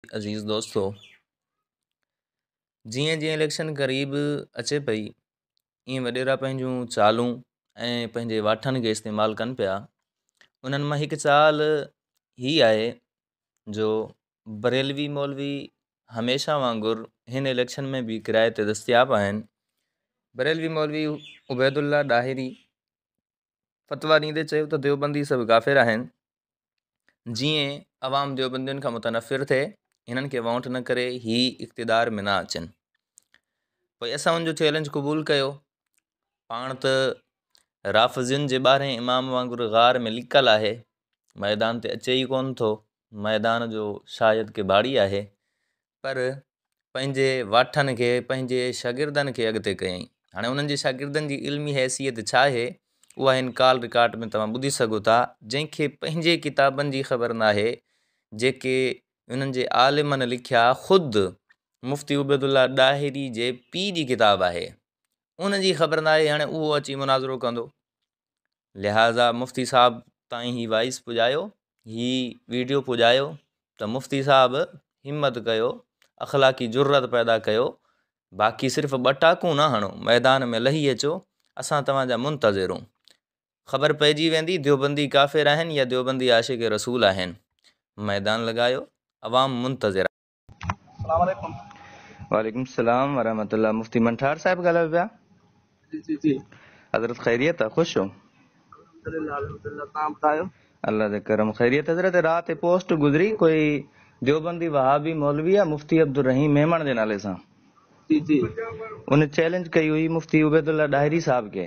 عزيز دوستو جيئن جيئن اليڪشن قريب اچي پئي ائين وڏيرا پنهنجون چالون ۽ پنهنجي واٺن کي استعمال ڪن پيا انهن مان هڪ چال هي آهي جو بريلوي مولوي هميشه وانگر هن اليڪشن ۾ به ڪراء تي دستياب آهن بريلوي مولوي عبيدالله ڏاهري فتويٰ ڏيندي چيو ته ديوبندي سڀ ڪافر آهن جيئن عوام ديوبندين کان متنفر ٿئي هنن کي ووٽ نه ڪري هي اقتدار ۾ نه اچن پوء اسان ان جو چيلنج قبول ڪيو پاڻ ته رافضين جي ٻارهين امام وانگر غار ۾ لڪل آهي ميدان تي اچي ئي ڪون ٿو ميدان جو شايد ڪٻاڙي آهي پر پنهنجي واٺن کي پنهنجي شاگردن کي اڳتي ڪيائين هاڻي انهن جي شاگردن جي علمي حيثيت ڇا آهي اها هن ڪال رڪارڊ ۾ توهان ٻڌي سگهو ٿا جنهن کي پنهنجي ڪتابن جي خبر نه آهي جيڪي انهن جي عالمن لکيا خود مفتي عبيد الله ڏاهري جي پي جي ڪتاب آهي ان جي خبر نه آهي هاڻي اهو اچي مناظرو ڪندو لهٰذا مفتي صاحب تائين هي وائس پڄايو هي ويڊيو پڄايو ته مفتي صاحب همت ڪيو اخلاقي جرت پيدا ڪيو باقي صرف ٻه ٽاڪون نه هڻو ميدان ۾ لهي اچو اسان توهان جا منتظر آهيون خبر پئجي ويندي ديوبندي ڪافر آهن يا ديوبندي عاشق رسول آهن ميدان لڳايو عوام منتظر وعليڪم السلام ورحمة الله مفتي منٺار صاحب ڳالهايو پيا جي جي جي حضرت خيريت آ خوش ڇو الله جي کرم خيريت حضرت رات پوسٽ گذري کوئي دیوبندي وهابي مولوي آ مفتي عبدالرحيم ميمڻ جي نالي سان جي جي ان چيلنج ڪئي هئي مفتي عبيدالله ڏاهري صاحب کي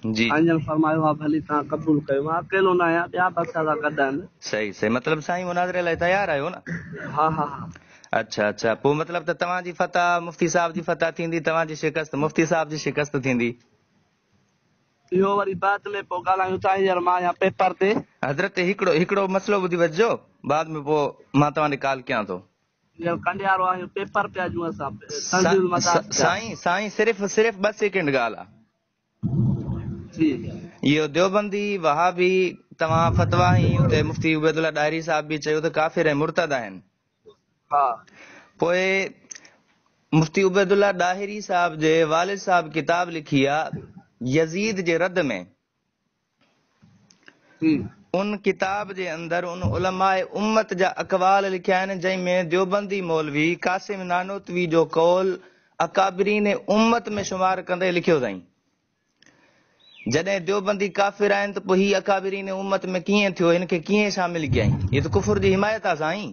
جي. سائين جن فرمايو ها ڀلي تان قبول ڪيو مان اڪيلو نه آهيان ٻيا به اسان سان گڏ آهن. صحيح صحيح مطلب سائين مناظري لاء تيار آهيو نه. ها ها ها. اڇا اڇا پو مطلب ته توهان جي فتح مفتي صاحب جي فتح ٿيندي توهان جي شڪست مفتي صاحب جي شڪست ٿيندي. اهو وري بعد ۾ پو ڳالهايون ٿا هينئر مان آهيان پيپر تي. حضرت هڪڙو هڪڙو مسئلو ٻڌي وجهجو بعد ۾ پو مان توهان ڏي ڪال ڪيان ٿو. هينئر ڪنڊيارو آهيون پيپر پيا ڏيون اسان تنزيل المدارس جا. سائين سائين صرف صرف ٻه سيڪنڊ ڳالهه آ. اهو ديوبندي، وهابي، توهان فتويٰ ۽ اتي مفتي عبيدالله ڏاهري صاحب به چيو ته ڪافر ۽ مرتد آهن. پوء مفتي عبيدالله ڏاهري صاحب جي والد صاحب ڪتاب لکي آ يزيد جي رد ۾. ان ڪتاب جي اندر ان علماء امت جا اقوال لکيا آهن جنهن ۾ ديوبندي مولوي قاسم نانوتوي جو قول اڪابرين امت ۾ شمار ڪندي لکيو اٿائين. جڏهن ديوبندي ڪافر آهن ته پوء هي اڪابرين امت ۾ ڪيئن ٿيو هن کي ڪيئن شامل ڪيائين هي ته ڪفر جي حمايت آهي سائين.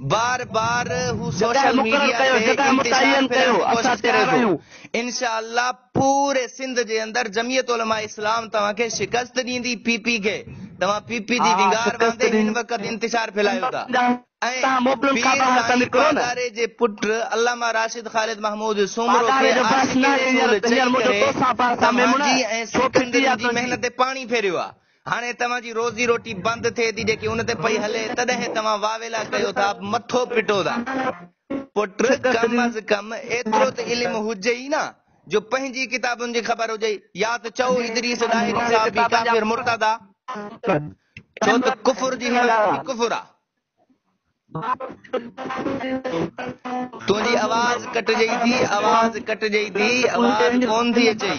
بار بار هو سوشل ميڊيا تي انتشار ڦرڻ جي ڪوشش ڪري ٿو انشاء الله پوري سنڌ جي اندر جميعت علماء اسلام توهان کي شڪست ڏيندي پي پي کي توهان پي پي جي وينگار باندي هن وقت انتشار ڦھلايو ٿا ۽ پير سائين پاڳاري جي پٽ علامه راشد خالد محمود سومرو کي عاشق رسول چئي ڪري توهان جي ۽ سکندرن جي محنت تي پاڻي ڦيريو آ هاڻي توهان جي روزي روٽي بند ٿئي ٿي جيڪي ان تي پئي هلي تڏهن توهان واويلا ڪيو ٿا مٿو پٽو ٿا. پٽ ڪم از ڪم ايترو ته علم هجئي ئي نه جو پنهنجي ڪتابن جي خبر هجئي يا ته چئو ادريس ڏاهري صاحب به ڪافر مرتد آ ڇو ته ڪفر جي حمايت به ڪفر آ. تنهنجي آواز ڪٽجئي ٿي آواز ڪٽجئي ٿي آواز ڪون ٿي اچئي.